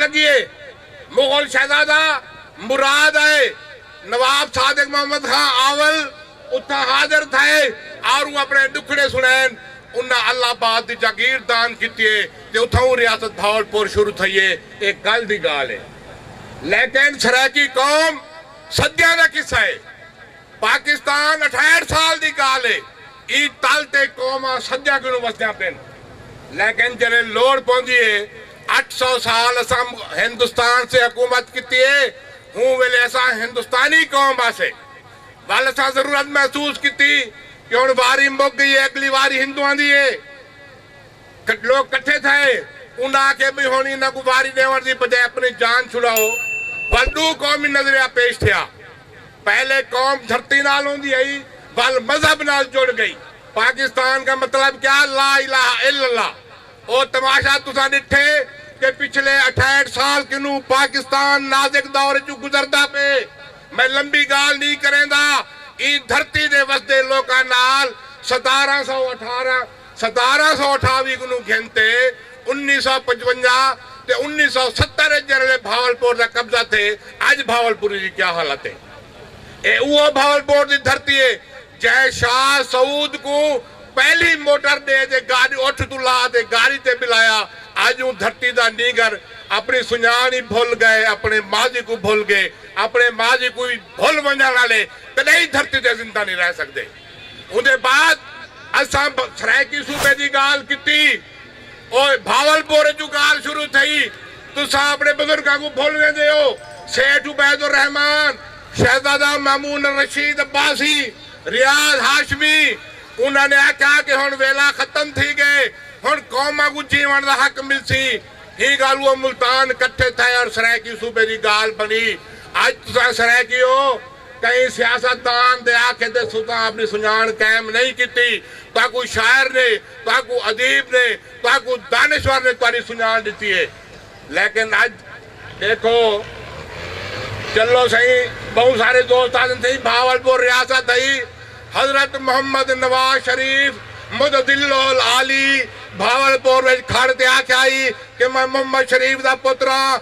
لگیے۔ مغل شہزادہ مراد آئے نواب صادق محمد خاں آول اتھاں حاضر تھئے آروں اپنے ڈکھڑے سنڑین۔ انہاں الہ آباد دی جاگیر دان کیتیے تے اتھاؤں ریاست بھاول پور شروع تھئیے۔ اے کل دی گالھ اے لیکن سرائیکی قوم صدیاں دا قصہ اے۔ پاکستان اٹھہٹھ سال دی گالھ اے ایں تل تے قوماں سدیاں کنوں وسدیاں پن لیکن جلے لوڑ پوندی اے اٹھ سو سال اساں ہندوستان سے حکومت کیتی اے اوں ویلے اساں ہندوستانی قوم واسے ول اساں ضرورت محسوس کیتی کہ ہن واری مک گئی اے اگلی واری ہندواں دی اے لوک کٹھے تھئے انہاں آکھے بھئی ہن انہاں کوں واری ڈیونڑ دی بجائے اپنی جان چھڑاؤ ول ڈو قومی نظریہ پیش تھیا۔ پہلے قوم دھرتی نال ہوندی ہئی ول مذہب نال جڑ گئی پاکستان کا مطلب کیا لا الہ الا اللہ او تماشا تساں ڈٹھے کہ پچھلے اٹھہٹھ سال کنو پاکستان نازک دور اچوں گزردا پئے میں لمبی گالھ نی کریندا ایں دھرتی دے وسدے لوکاں نال ستارہ سو اٹھارہ ستارہ سو اٹھاوی کنوں گھن تے انیس سو پچونجا تے انیس سو ستر اچ جیرھلے بھاولپور دا قبضہ تھئے اج بھاولپوری دی کیا حالت اے۔ اے اوہو بھاولپور دی دھرتی اے جئیں شاہ سعود کوں پہلی موٹر ڈے تے گاڈ اٹھ توں لا تے گاڑی تے بلایا اج اوں دھرتی دا نینگر اپنی سنجان ای بھل گئے اپنے ماضی کوں بھل گئے اپنے ماضی کوں وی بھل ونجن آلے کڈئی دھرتی تے زندہ نی رہ سکدے۔ اوندے بعد اساں سرائیکی صوبے دی گالھ کیتی او بھاول پور اچوں گالھ شروع تھئی تساں اپنے بزرگاں کوں بھل ویندے ہو سیٹھ عبید الرحمن شہزادہ مامون الرشید عباسی ریاض ہاشمی انہاں نے آکھیا کہ ہن ویلا ختم تھی گئے ہن قوماں کوں جیون دا حق ملسی ایں گالوں ملتان کٹھے تھئے اور سرائیکی صوبے دی گالھ بنی اج تساں سرائیکی ہو کہیں سیاست دان دے آکھے تے ستاں اپݨی سنڄاݨ قائم نئیں کیتی، تہاکوں شاعر نے، تہاکوں ادیب نے، تہاکوں دانشور نے تہاݙی سنڄاݨ ݙتی ہے لیکن اڄ ݙیکھو چلو سئیں ٻہوں سارے دوست آہدن سئیں بہاولپور ریاست ہئی حضرت محمد نواز شریف متدلو العالی بہاولپور وچ کھڑ تے آکھیا ہئی کہ میں محمد شریف دا پتر ہاں،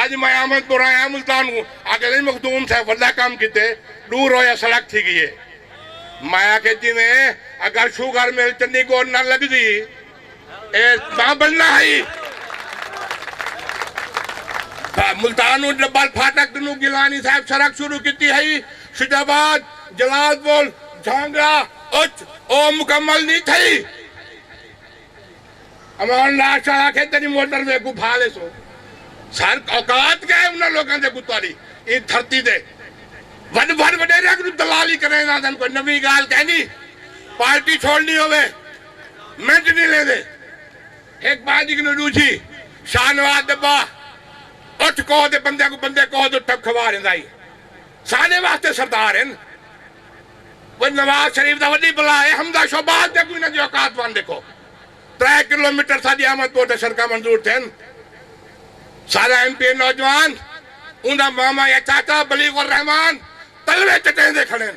اج میں احمد پور آیاں ملتان کوں آکھیا سئیں مخدوم صاحب وڈا کم کیتے ڈو رویہ سڑک تھی گئی اے میں آکھیا جیویں اگر شوگر مل چنڈی گوڈ نہ لگدی اے تاں بننا ہئی تاں ملتان کوں ڈبل پھاٹک کنوں گیلانی صاحب سڑک شروع کیتی ہئی شجاع آباد جلال پور جھانگڑا اچ او مکمل نی تھئی۔ عوام لاش چا آکھے تیڈی موٹر وے کوں بھا لیسوں سر اوقات کیا ہے انہاں لوکاں دے کتوں آلی ایں دھرتی دے وڈ وڈ وڈیریاں کنوں دلالی کریں آندن کوئی نویں گال کہیں نہیں پارٹی چھوڑنی ہووے منٹ نہیں لیندے ہک پارٹی کنوں ڈوجھی شاہ نواز دبا اٹھ کوہ دے بندے کو بندے کوہ دو ٹپ کھوا رہندا ہی ساڈے واسطے سردار ہیں نواز شریف دا وڈی بلا اے حمزہ شہباز دے کوئی انہاں دی اوقات ون ڈیکھو ترے کلو میٹر ساڈی احمد پور تے سڑکاں منظور تھین سارا ایم پی اے نوجوان اوندا ماما یا چاچا بلیغ الرحمان تلوے چٹیندے کھڑین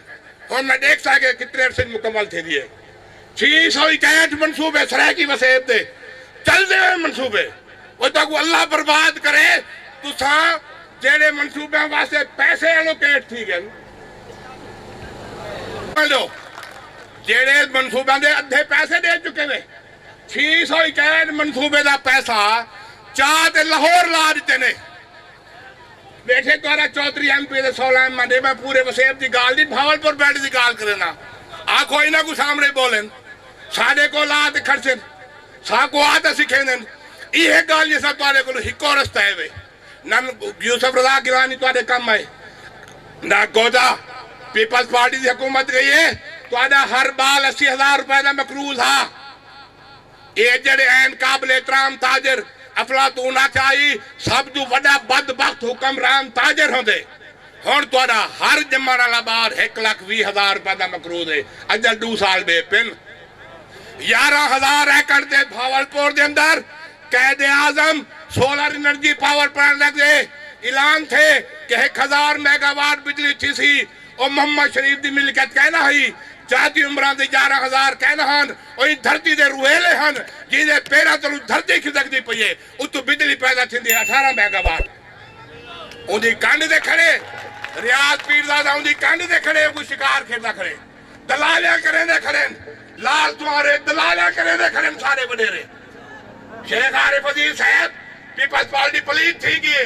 ہن میں ڈیکھساں کہ کتنے عرصے وچ مکمل تھیندی اے۔ چھی سو اکہٹھ منصوبے سرائیکی وسیب دے چلدے ہوئیں منصوبے او تہاکوں اللہ برباد کرے تساں جیڑھے منصوبیاں واسطے پیسے الوکیٹ تھی گن ڈیو جیڑھے منصوبیاں دے ادھے پیسے ڈے چکے نے چھی سو اکہٹھ منصوبے دا پیسہ چا تے لاہور لا ڈتے نے بیٹھے گورا چوہدری ایم پی دے سوالان منڈے میں پورے وسیب دی گال دی بھاول پور بیلٹ دی گال کرینا آکھو انہاں کو سامنے بولن ساڈے کول آ تے کھڑسن ساکو آ تے سکھیندن ایہے گال جیسا تواڈے کولو ہکو رستہ ہے وے نہ یوسف رضا گیلانی تواڈے کم آئے نہ گودا پیپلز پارٹی دی حکومت گئی ہے تواڈا ہر بال اسی ہزار روپے دا مقروض ہا۔ اے جیڑھے ہین قابل احترام تاجر، افلاطون آکھیا ہئی سب توں وڈا بد بخت حکمران تاجر ہوندے۔ ہنڑ تہاڈا ہر جمنڑ آلا بار ہک لکھ ویہہ ہزار روپے دا مقروض ہے اجل ڈو سال بے پن یارہاں ہزار ایکڑ تے بھاول پور دے اندر Quaid Azam solar energy power plant دا دے اعلان تھے کہ ہک ہزار میگا واٹ بجلی تھیسی او محمد شریف دی ملکیت کائناں ہئی جاتی عمراں دے یارہاں ہزار کائناں ہن او ایں دھرتی دے روہیلے ہن جیں دے پیراں تلوں دھرتی کھسکدی پئی اے۔ اتوں بجلی پیدا تھیندی اے اٹھارہ میگا واٹ اوندی کنڈ تے کھڑے ریاض پیرزادہ اوندی کنڈ تے کھڑے اگوں شکار کھیݙدا کھڑے دلالیاں کریندے کھڑن لال سوانرے دلالیاں کریندے کھڑن سارے وݙیرے شیخ عارف عزیز صاحب پیپلز پارٹی پلیت تھی ڳی اے۔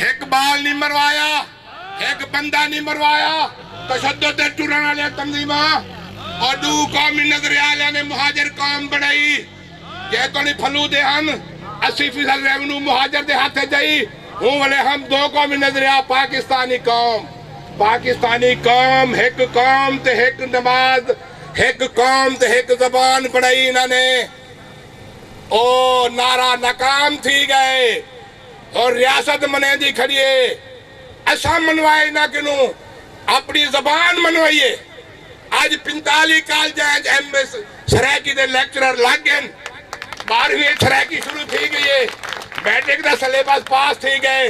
ہک بال نی مروایا ہک بندہ نی مروایا تشدد دے ٹرن آلیاں تنظیماں او ڈو قومی نظریہ آلیاں نے مہاجر قوم بنڑائی جے توڑی پھلو دے ہن اسی فیصد ریونو مہاجر دے ہتھ اچ ائی ہوں ولے ہم دو قومی نظریہ پاکستانی قوم پاکستانی قوم ہک قوم تے ہک نماز ہک قوم تے ہک زبان بنڑائی انہاں نے او نعرہ ناکام تھی گئے۔ ہور ریاست منیندی کھڑی اے اساں منوائے انہاں کنوں اپنی زبان منوائی اے اج پنتالی کالجاں اچ ایم اے سرائیکی دے لیکچرر لگ گئن بارہویں اچ سرائیکی شروع تھی گئی اے میٹرک دا سلیبس پاس تھی گئے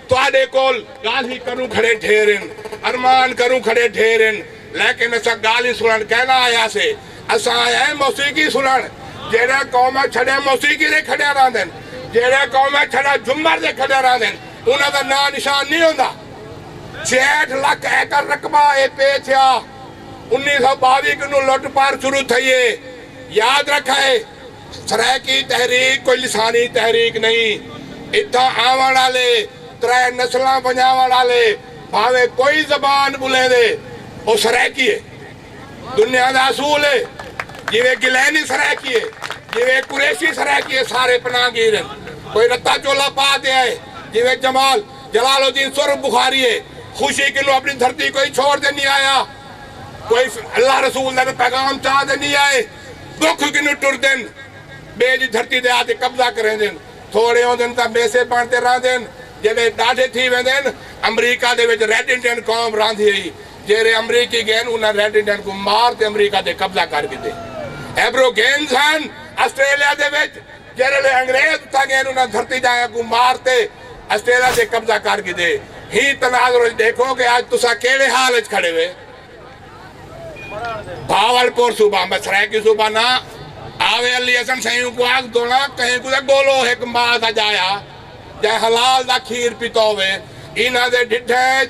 تہاڈے کول گالھیں کروں کھڑے ڈھیر ہن ارمان کروں کھڑے ڈھیر ہن لیکن اساں گالھیں سنڑن کائناں آئیاسے۔ اساں آئے ہیں موسیقی سنڑن جیڑھے قوم اچ چھڈے موسیقی دے کھڈے راہندن جیڑھے قوم اچ چھڈے جھمر دے کھڈے راہندن انہاں دا ناں نشان نی ہوندا چھیہٹھ لکھ ایکڑ رقبہ اے پے تھیا انیس سو باوی کنوں لٹ پار شروع تھئی اے یاد رکھا اے سرائیکی تحریک کوئی لسانی تحریک نہیں اتھاں آونڑ آلے ترے نسلاں ونجاونڑ آلے بھانویں کوئی زبان بولیندے او سرائیکی اے۔ دنیا دا اصول ہے جیویں گیلینی سرائیکی ہے جیویں قریشی سرائیکی ہے سارے پناہ گیر ہن کوئی رتا چولا پا تے آئے جیویں جمال جلال الدین سورب بخاری ہے خوشی کنوں اپنی دھرتی کوئی چھوڑ تے نی آیا کوئی اللہ رسول دا پیغام چا تے نی آئے دکھ کنوں ٹردن بے دی دھرتی دے آتے قبضہ کریندن تھوڑے ہوندن تاں میسے بن تے راندن جیڑے ڈاڈھے تھی ویندن امریکہ دے وچ ریڈ انڈین قوم راندھی ہئی جیرھے امریکی گین انہاں ریڈنگٹن کوں مار تے امریکہ تے قبضہ کر گھدے۔ ایبرو گینز ہن آسٹریلیا دے وچ جیرھے لے انگریز اتھاں گین انہاں دھرتی دایاں کوں مار تے آسٹریلیا تے قبضہ کر گھدے۔ ہیں تناظر وچ ڈیکھو کہ اج تساں کیڑھے حال وچ کھڑے وے۔ بھاول پور صوبہ میں سرائیکی صوبہ نہ آوے علی حسن سئیں کوں آکھ دولاں کہیں کوں تے گولو ہک ماء دا جایا جئیں حلال دا کھیر پیتو وے انہاں دے ڈھڈھیں وچ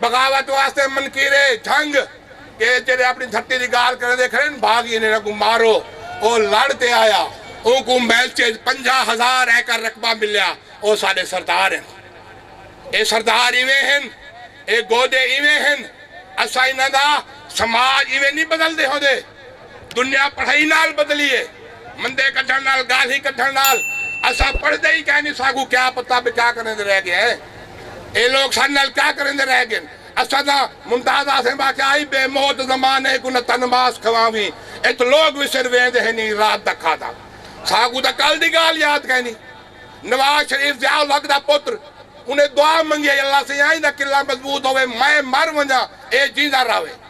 بغاوت واسطے منکیرے جھنگ کے جیڑھے اپنی دھرتی دی گالھ کریندے کھڑن بھاگی انہاں کوں مارو او لڑ تے آیا اونکوں میلچے اچ پنجاہ ہزار ایکر رقبہ ملیا او ساڈے سردار ہن اے سردار ایویں ہن اے گودے ایویں ہن اساں انہاں دا سماج ایویں نی بدلدے ہوندے۔ دنیا پڑھائی نال بدلی ہے۔ مندے کڈھݨ نال گالھیں کڈھݨ نال اساں پڑھدے ہی کائنی ساکوں کیا پتہ بھئی کیا کریندے رہ گئے ہیں۔ اے لوک ساڈے نال کیا کریندے رہ گئن۔ اساں تاں ممتاز آسیں واقعہ آئی بے موت زمانے کوں نہ تن ماس کھواویں اچ لوک وسر ویندے ہیں نی رات دا کھادا۔ ساکوں تاں کل دی گالھ یاد کائنی۔ نواز شریف ضیاء الحق دا پتر انہیں دعا منگی ہئی اللہ سئیں آئیں دا قلعہ مضبوط ہووے میں مر ونجاں اے جیندا راہوے۔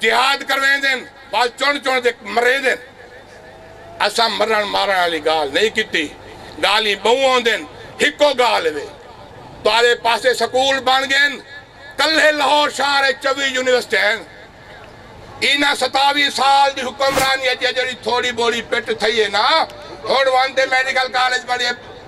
جہاد کرویندن بعد چݨ چݨ تے مریندن اساں مرݨ مارݨ آلی گالھ نئیں کیتی گالھیں ٻہوں ہوندن ہکو گالھ وے تہاݙے پاسے سکول بݨ ڳئن کلھے لہور شہر اچ چووی یونیورسٹیاں ہن انہاں ستاوی سال دی حکمرانی اچ جیڑھی تھوڑی ٻوڑی پٹ تھئی ہے نا ہݨ ونڄ تے میڈیکل کالج پڑھیے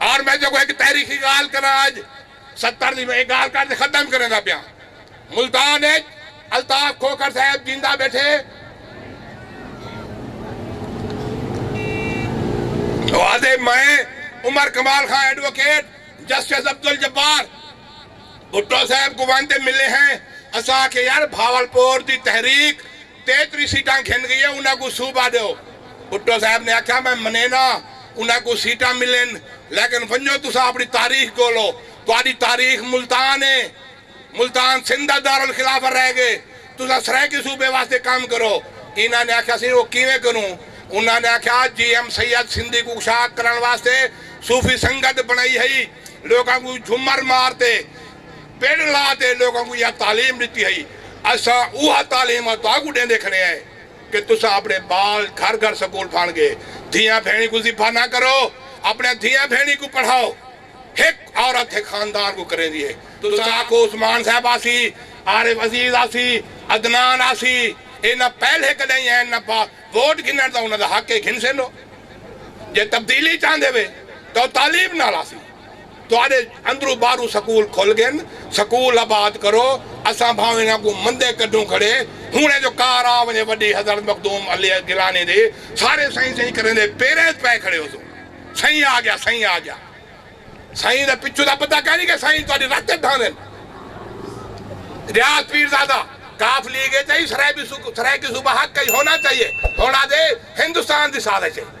اور میں جو کو ہک تاریخی گالھ کراں اج ستر دی میں اے گالھ کر تے ختم کریندا پیاں ملتان اچ الطاف کھوکھر صاحب جیندا بیٹھے او آدھے میں عمر کمال خاں ایڈووکیٹ جسٹس عبدالجبار بھٹو صاحب کو ونج تے ملے ہیں اساں آکھیا یار بھاول پور دی تحریک تیتری سیٹاں گھن گئیے انہاں کوں صوبہ ڈیو۔ بھٹو صاحب نے آکھیا میں منینا انہاں کوں سیٹاں ملن لیکن ونجو تساں اپنی تاریخ گولو تہاڈی تاریخ ملتان اے ملتان سندھ دا دارالخلافہ رہ گئے تساں سرائیکی صوبے واسطے کم کرو انہاں نے آکھیا سی او کیویں کروں انہاں نے آکھیا جی ایم سید سندھی کوں کشاد کرن واسطے صوفی سنگت بنائی ہئی لوکاں کوں جھمر مار تے پنڈ لاہ دے لوکاں کوں ایہا تعلیم ڈتی ہئی اساں اوہا تعلیم ا تہاکوں ڈیندے کھڑے ہیں کہ تساں اپنے بال گھر گھر سکول پھان گے دھیاں بھینڑیں کوں ذبح نہ کرو اپنیاں دھیاں بھینڑیں کوں پڑھاؤ ہک عورت ہک خاندان کوں کریندی ہے تساں آکھو عثمان صاحب آسی عارف عزیز آسی عدنان آسی ایہ نہ پہلے کڈہیں ہین نہ با ووٹ گھننڑ دا انہاں دا حق ہے گھن سیندو جے تبدیلی چاہندے وے تاں او تعلیم نال آسی۔ تہاݙے اندروں ٻاہروں سکول کھل ڳن سکول آباد کرو اساں بھانویں انہاں کوں مندے کڈھوں کھڑے ہنڑیں جو کار آ ونجے وڈی حضرت مخدوم علی گیلانی دی سارے سئیں سئیں کریندے پیریں ءچ پئے کھڑے ہوسوں سئیں آ گیا سئیں آ گیا سئیں دا پچھوں دا پتہ کائنی کہ سئیں تہاݙی رت ءچ ڈھاندن غیاث پیرزادہ کاف لیگ ءچ ائی سرائیکی صوبہ حق ائی ہونا چاہیے ہنڑ آدھے ہندوستان دی سازش ائی۔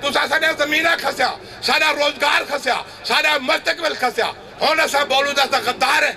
تساں ساݙیاں زمیناں کھسیا، ساݙا روزگار کھسیا، ساݙا مستقبل کھسیا، ہݨ اساں بولوں تاں اساں غدار ہیں۔